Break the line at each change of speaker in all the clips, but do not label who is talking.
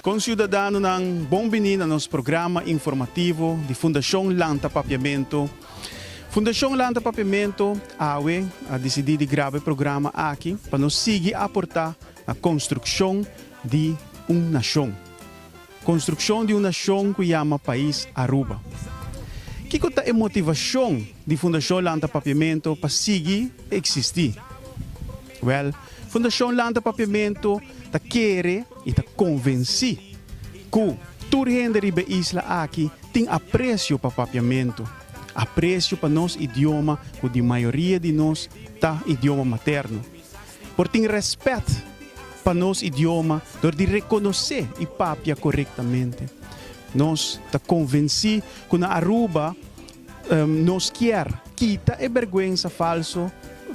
Conciudadanonan, bon bini na nos programa informativo di Fundacion Lanta Papiamento. Fundacion Lanta Papiamento, awe, a dicidi di graba e programa aki pa nos sigui aporta na construccion di un nacion. Konstrukshon di un nashon ku yama Pais Aruba. Kiko ta e motivashon di Fundashon Lanta Papiamentu pa sigui eksistí? Wèl, Fundashon Lanta Papiamentu ta kere i ta konvensí ku tur hende riba e isla aki tin apresio pa papiamentu, apresio pa nos idioma ku di mayoria di nos ta idioma materno. Por tin rèspèt pa nos idioma dor di rekonosé i papia korektamente. Nos ta konvensí ku na Aruba nos kier kita e bèrgwensa falso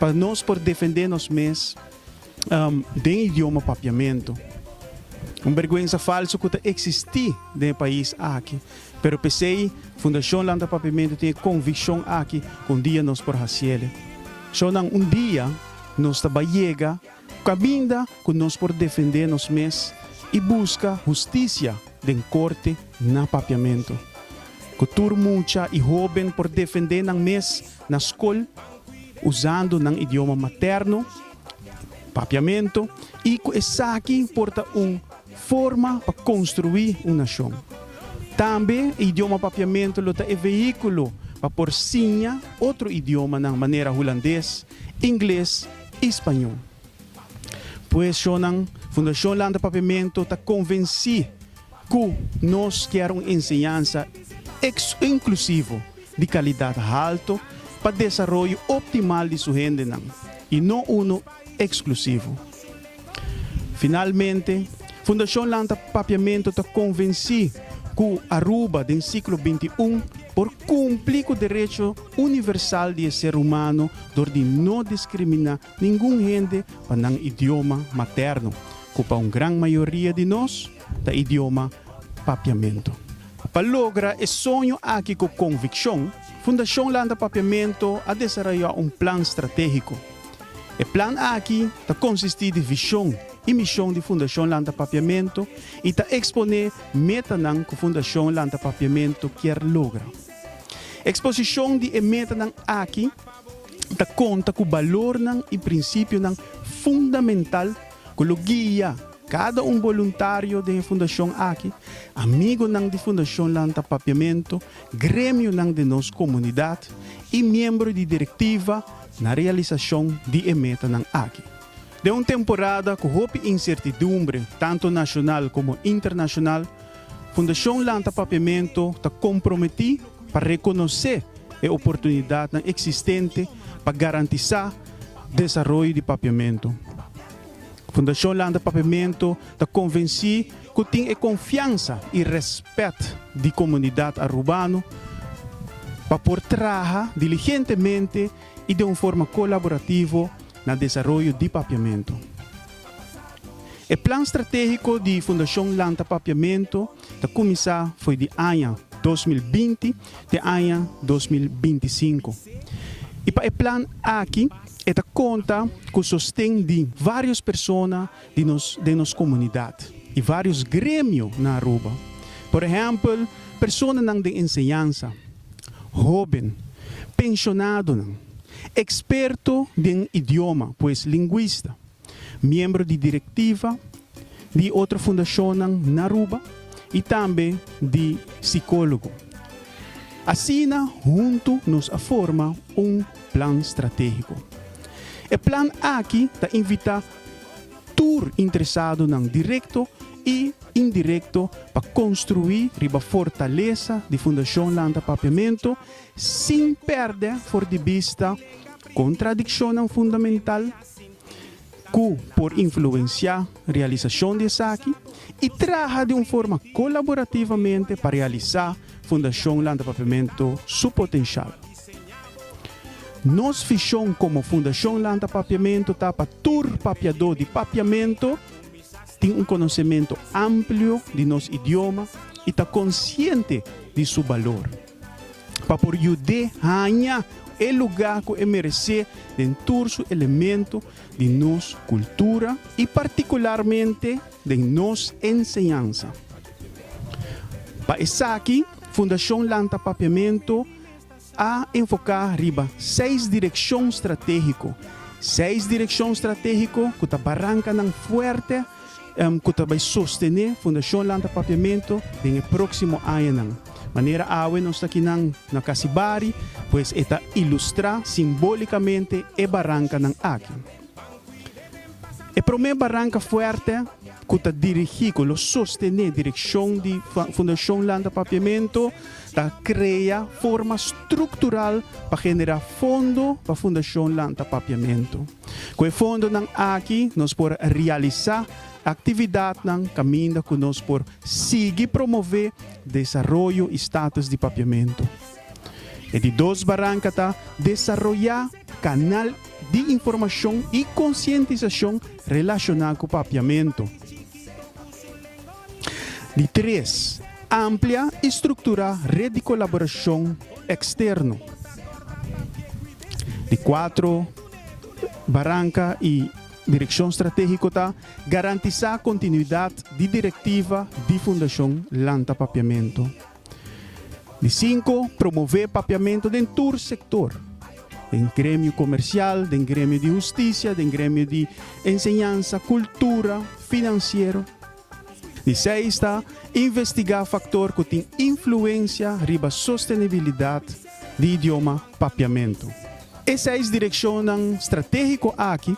pa nos por defendé nos mes den idioma papiamentu. Un bèrgwensa falso ku ta eksistí den e pais aki Pero p'esei, Fundacion Lanta Papiamentu tin e conviccion aki cu un dia nos por haciele. Shownan, un dia nos ta bai yega caminda cu nos por defende nos mes y busca husticia den corte na Papiamentu. Cu tur mucha y hoben por defende nan mes na scol usando nan idioma materno. Papiamentu, i ku esaki por ta un forma pa konstruí un nashon. Tambe e idioma papiamentu lo ta e veíkulo pa por siña otro idiomanan manera hulandes, ingles i spañol. Pues, shonnan, Fundashon Landa Papiamentu ta konvensí Cu nos kier un enseñansa ex-inclusivo di calidad halto pa desaroyo optimal di su hendenan y no uno exclusivo. Finalmente, Fundacion Lanta Papiamento ta convenci cu Aruba den siglo binti un por cumpli cu derecho universal di e ser humano door di no discrimina ningun hende pa nan idioma materno, cu pa un gran mayoria di nos, ta idioma Papiamentu. Pa logra e soño aki ku konvikshon, Fundashon Landa Papiamentu a desarayá un plan stratégiko. E plan aki ta konsistí di vishon i mishon di Fundashon Landa Papiamentu i ta eksponé metanan ku Fundashon Landa Papiamentu kier logra. Eksposishon di e metanan aki ta konta ku balornan i prinsipionan fundamental ku lo guia Cada un boluntario den e fundacion aki, amigonan di fundacion lanta papiamento, gremionan den nos comunidad y miembro di directiva na realisacion di e metanan aki. Den un temporada cu hopi incertidumbre tanto nacional como internacional, Fundacion Lanta Papiamento ta comprometi pa reconoce e oportunidadnan existente pa garantisa desaroyo di papiamento. Fundashon Landa Papiamento ta konvensí ku tin e konfiansa i rèspèt di komunidat Arubano pa por traha diligentemente i den un forma kolaborativo na desaroyo di Papiamento. E plan stratégiko di Fundashon Lanta Papiamento ta kuminsá fo'i di aña dos mil binti den aña dos mil binti sinku i pa e plan aki e ta konta ku sosten di vários persona di nos den nos komunidat i vários gremio na Aruba, por ehèmpel personanan den enseñansa, hóben, penshonadonan, eksperto den idioma, pues lingwista. miembro di directiva di otro fundacionnan na Aruba y tambe di psicologo. Asina hunto nos a forma un plan strategico. E plan aki ta invita tur interesadonan directo y indirecto pa construi riba fortaleza di Fundacion Lanta Papiamento sin perde for di bista contradiccionnan fundamental, ku por influensiá realisashon di esaki i traha di un forma kolaborativamente pa realisá Fundashon Lantapapiamentu su potenshal. Nos vishon komo Fundashon Lantapapiamentu ta pa tur papiadó di papiamentu tin un konosementu amplio di nos idioma i ta konsiente di su balor. pa por yud'é haña e lugá ku e meresé den tur su elemento di nos kultura i partikularmente den nos enseñansa. Pa esaki Fundashon Lanta Papiamentu a enfoká riba seis direkshon stratégiko, seis direkshon stratégiko ku ta barankanan fuerte ku ta bai sostené fundashonnan ta papiamentu den e próksimo añanan. Manera awe nos ta kinan na Kasibari, pues e ta ilustrá simbólikamente e barankanan aki. E promé baranka fuerte ku ta dirigí, ku lo sostené direkshon di fundashonnan ta papiamentu, ta krea forma struktural pa generá fondo pa fundashonnan ta papiamentu. Ku e fondonan aki nos por realisá aktividatnan kaminda ku nos por sigui promové desaroyo i status di papiamentu. E di dos baranka ta desaroyá kanal di informashon i konsientisashon relashoná ku papiamentu. Di tres, amplia i strukturá ret di kolaborashon eksterno. Di kuatro, Baranka i Direkshon Stratégiko ta garantisá kontinuidat di direktiva di Fundashon Lanta Papiamentu. Di sinku, promové papiamentu den tur sektor, den gremio komersial, den gremio di hustisia, den gremio di enseñansa, kultura, finansiero. Di seis ta investigá faktor ku tin influensia riba sostenibilidat di idioma papiamentu. E seis direkshonnan stratégiko aki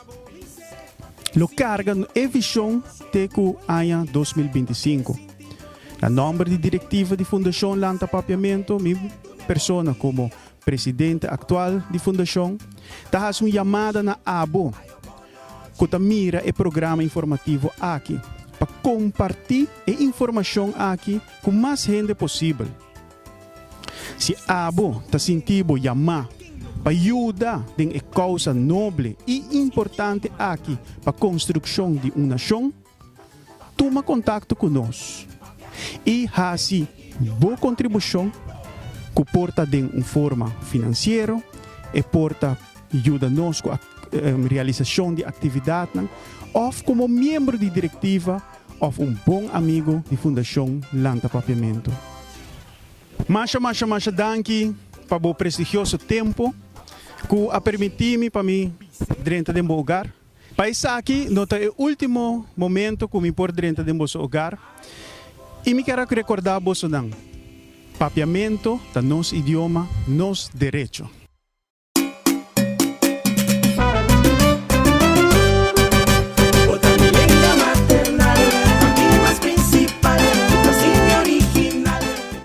lo karga e vishon te ku aña dos mil binti sinku. Na nòmber di direktiva di Fundashon Lanta Papiamentu, mi persona komo presidente aktual di Fundashon, ta hasi un yamada na abo ku ta mira e programa informativo aki pa kompartí e informashon aki ku mas hende posibel. Si abo ta sinti bo yamá pa yuda den e kousa noble i importante aki pa konstrukshon di un nashon, Tuma kontakto ku nos i hasi bo kontribushon ku por ta den un forma finansiero, e por ta yuda nos ku realisashon di aktividatnan òf komo miembro di direktiva òf un bon amigu di Fundashon Lanta Papiamentu. Masha masha masha danki pa bo prestigioso tempu ku a permití mi pa mi drenta den bo ogar. Pa esaki no ta e ultimo momento ku mi por drenta den boso ogar i mi ker rekordá boso nan, Papiamentu ta nos idioma, nos derecho.